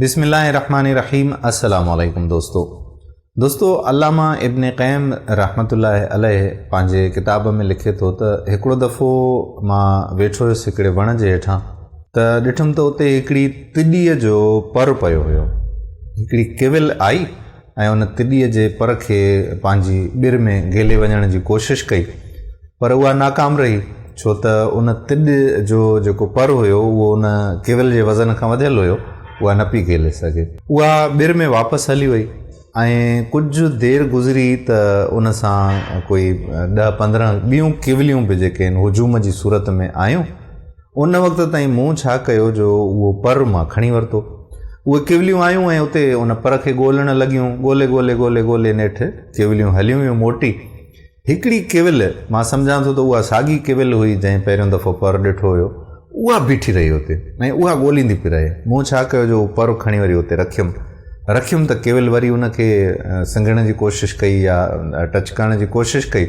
بسم الله الرحمن الرحيم السلام عليڪم دوستو دوستو علامه ابن قيم رحمت الله عليه پنهنجي ڪتاب ۾ لکي ٿو ته هڪڙو دفعو مان ويٺو هيس هڪڙي وڻ جي هيٺان ته ڏٺم ته اتي هڪڙي تڏيء جو پر پيو هيو هڪڙي ڪيول آئي ۽ ان تڏيء جي پر کي پنهنجي ٻر ۾ گهلي وڃڻ جي ڪوشش ڪئي، پر اها ناڪام رهي، ڇو ته ان تڏ جو جيڪو پر هيو، اهو ان ڪيول جي وزن کان وڌيل هيو، اها نه پئي گهلي سگهي. اها ٻر ۾ واپس هلي وئي ۽ ڪجهه دير گذري ته ان سان ڪوئي ڏهه پندرهن ٻيون ڪيوليون به جيڪي هن هجوم جي صورت ۾ آيون، ان وقت تائين مون ڇا ڪيو جو اهو پر مان کڻي ورتو. اهي ڪوليون آيون ۽ اتي ان پر کي ڳولڻ لڳيون. ڳولي ڳولي ڳولي ڳولي نيٺ ڪوليون هليون ويون موٽي. هڪڙي ڪول، مان سمجهان ٿو ته اها ساڳي ڪول هئي جنهن پهريون دفعو پر ڏٺو هيو، اها بيٺي رهي اتي ۽ اها ڳوليندي پئي رهي. مون ڇا ڪيو جو اهو پر کڻي وري اتي رکيم. رکيم ته ڪول وري ان کي سنگهڻ جي ڪوشش ڪئي يا ٽچ ڪرڻ جي ڪوشش ڪئي.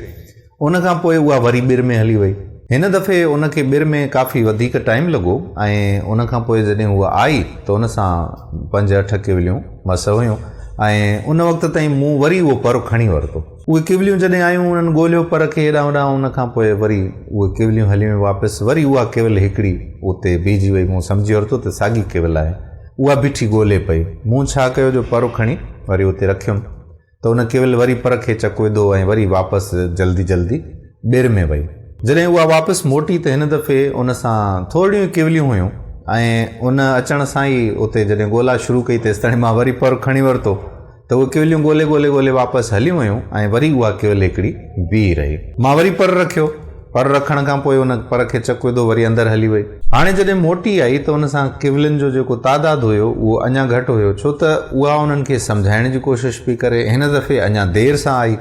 ان کان پوء اها وري ٻر ۾ هلي وئي. هن دفعي ان کي ٻر ۾ ڪافي وڌيڪ ٽائيم لڳو ۽ ان کان پوء جڏهن هوء آئي ته ان سان پنج اٺ ڪوليون مس هيون ۽ ان وقت تائين مون وري اهو پر کڻي ورتو. اهي ڪوليون جڏهن آيون انهن ڳوليو پر کي هيڏانهن هوڏانهن ان کان پوء وري اهي ڪوليون هلي ويون واپس وري اها ڪول هڪڙي اتي بيهجي وئي مون سمجهي ورتو ته ساڳي ڪول آهي اها بيٺي ڳولي پئي مون ڇا ڪيو جو پر کڻي وري اتي رکيم ته ان ڪيول وري پر کي چڪ وڌو ۽ وري واپس جلدي جلدي ٻير ۾ وئي. جڏهن اها واپس موٽي ته هن دفعي ان سان ٿورڙيون ئي ڪيوليون هيون ۽ ان اچڻ سان ئي اتي جڏهن ڳولا شروع ڪئي تيستائين مان وري پر کڻي ورتو ته اهي ڪيوليون ڳولي ڳولي ڳولي واپس هليون ويون ۽ وري اها ڪيول هڪڙي بيهي رهي. مان وري پر رکيو. پر رکڻ کان پوء ان پر کي چڪ وڌو وري اندر هلي وئي. هاڻي جڏهن موٽي آئي ته ان سان ڪويلن جو جيڪو تعداد هيو اهو اڃا گهٽ هيو ڇو ته اها انهن کي سمجهائڻ جي ڪوشش پئي ڪري. هن دفعي اڃا دير سان آئي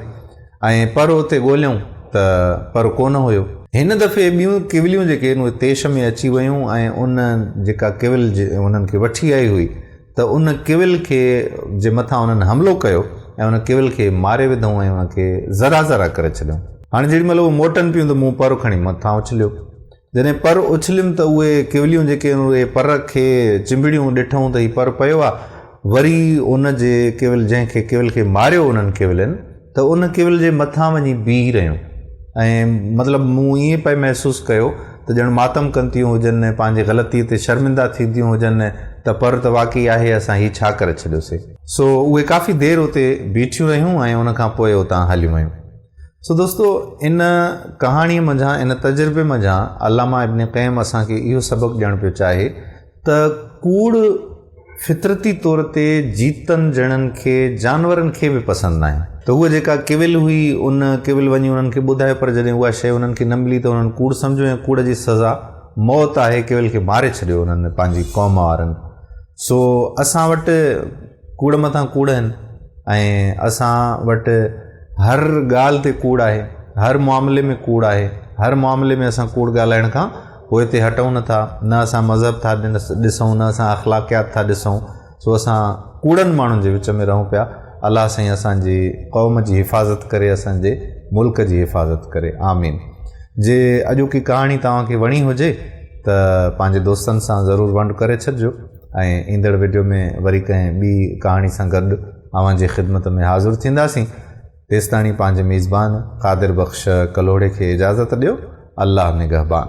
۽ پر اتي ڳوليائون ته پر ڪونه هيو. هن دفعي ٻيون ڪويليون جيڪي هن اهي تيش ۾ اچي ويون ۽ ان جيڪا ڪويل انهن کي وٺي آئي هئي ته ان ڪول کي جي مٿان انهن حملو ڪيو ۽ ان ڪول کي ماري وڌئون ۽ ان کي ذرا ذرا ڪري ڇڏيئون. هاڻي جيڏي مهل اهي موٽن پيون ته مون پر کڻي مٿان اڇليو. جڏهن پر اڇليم ته اهي ڪوليون جيڪي هن اهي پر کي چنبڙيون ڏٺئون ته هي پر پيو آ وري ان جي ڪول جنهن کي ڪول کي ماريو انهن ڪولين ته ان ڪيول جي مٿان وڃي بيهي رهيون ۽ مطلب مون ائين پئي محسوس ڪيو ته ڄڻ ماتم ڪن ٿيون هجن ۽ پنهنجي غلطيء تي شرمنده ٿينديون هجن ته پر ته واقعي آهي اسان هي ڇا ڪري ڇڏيوسي. سو اهي ڪافي دير اتي بيٺيون رهيون ۽ ان کان پوء اتان هليون ويون. سو دوستو ان ڪهاڻيء منجهان ان تجربي منجهان علامه ابن قيم اسان کي اهو سبق ڏيڻ پيو چاهي ته ڪوڙ فطرتي طور تي جيتن جهڙن کي جانورن کي به پسند ناهي ته هوء جيڪا ڪيول هئي ان ڪيول وڃي انهن کي ٻڌايو پر جڏهن اها شيء انهن کي نه ملي ته انهن ڪوڙ سمجهيو ۽ ڪوڙ جي سزا موت آهي ڪيول کي ماري ڇڏيو انهن پنهنجي قوم وارن سو اسان وٽ ڪوڙ مٿان ڪوڙ آهن ۽ اسان وٽ هر ڳالهه تي ڪوڙ آهي هر معاملي ۾ ڪوڙ آهي هر معاملي ۾ اسان ڪوڙ ڳالهائڻ کان پوء اتي هٽئون نه ٿا، نه اسان مذهب ٿا ڏسون، نه اسان اخلاقيات ٿا ڏسون، سو اسان ڪوڙن ماڻهن جي وچ ۾ رهون پيا، الله سائين اسان جي قوم جي حفاظت ڪري، اسان جي ملڪ جي حفاظت ڪري، آمين. جي اڄوڪي ڪهاڻي توهان کي وڻي هجي ته پنهنجي دوستن سان ضرور ونڊ ڪري ڇڏجو ۽ ايندڙ وڊيو ۾ وري ڪنهن ٻي ڪهاڻي سان گڏ اوهان جي خدمت ۾ حاضر ٿينداسين. تيستاڻي پنهنجي ميزبان قادر بخش ڪلهوڙي کي اجازت ڏيو. الله نگهبان.